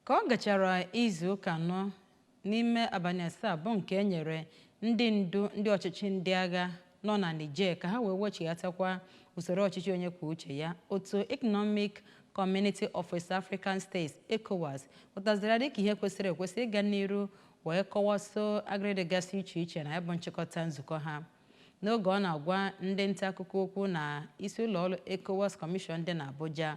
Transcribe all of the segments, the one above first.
Ka ọ gachara izu ụka anọ n'ime abalị asaa bụ nke e nyere ndị ndu ndị ọchịchị ndị agha nọ na Niger ka ha wee wechighatakwa usoro ọchịchị onye kwuo uche ya, otu Economic Community of West African States, ECOWAS, hụtaziri ya dịka ihe kwesịrị ekwesị ịga n'iru wee kọwaso agịrị dịgasị iche iche na ya bụ nchịkọta nzukọ ha. N'oge ọ na-agwa ndị ntaakụkọ okwu na isi ụlọọrụ Ecowas Commission dị n'Abuja,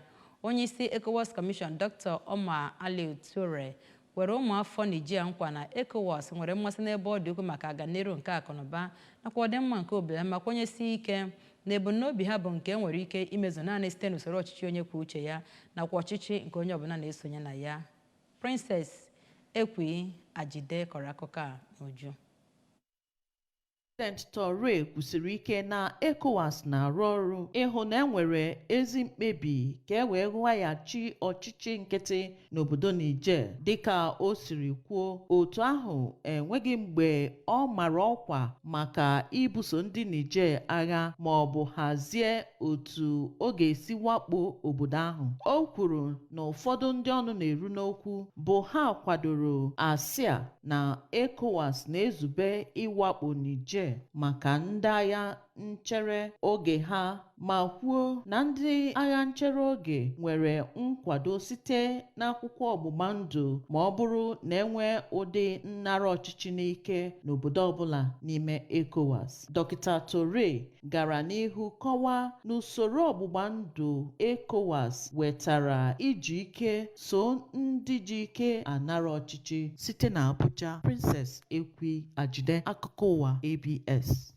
onyeisi Ecowas Commission Doctor Omar Alieu Touray kwere ụmụafọ Niger nkwa na Ecowas nwere mmasị n'ebe ọ dị ukwuu maka ọganiru nke akụnụba nakwa ọdịmma nke obi ha ma kwenyesie ike na ebumnobi ha bụ nke e nwere ike imezu naanị site n'usoro ọchịchị onye kwuo uche ya nakwa ọchịchị nke onye ọbụla na-esonye na ya. Princess Ekwi Ajide kọrọ akụkọ a n'uju. Prezident Touray kwusiri ike na ECOWAS na-arụ ọrụ ịhụ na enwere ezi mkpebi ka e wee rụghachi ọchịchị nkịtị n'obodo Niger. Dịka o siri kwuo, otu ahụ enweghị mgbe ọ mara ọkwa maka ibuso ndị Niger agha ma ọ bụ hazie otu ọ ga-esi wakpo obodo ahụ. O kwuru na ụfọdụ ndị ọnụ na-eru n'okwu bụ ha kwadoro asị a na ECOWAS na-ezube ịwakpo Niger maka ndị agha nchere oge ha ma kwuo na ndị agha nchere oge nwere nkwado site n'akwụkwọ ọgbụgba ndụ ma ọ bụrụ na enwee ụdị nnara ọchịchị n'ike n'obodo ọbụla n'ime ECOWAS. Dọkịta Touray gara n'ihu kọwaa na usoro ọgbụgba ndụ ECOWAS wetara iji ike soo ndị ji ike anara ọchịchị. Site na Abuja, Princess Ekwi Ajide, akụkọ ụwa ABS.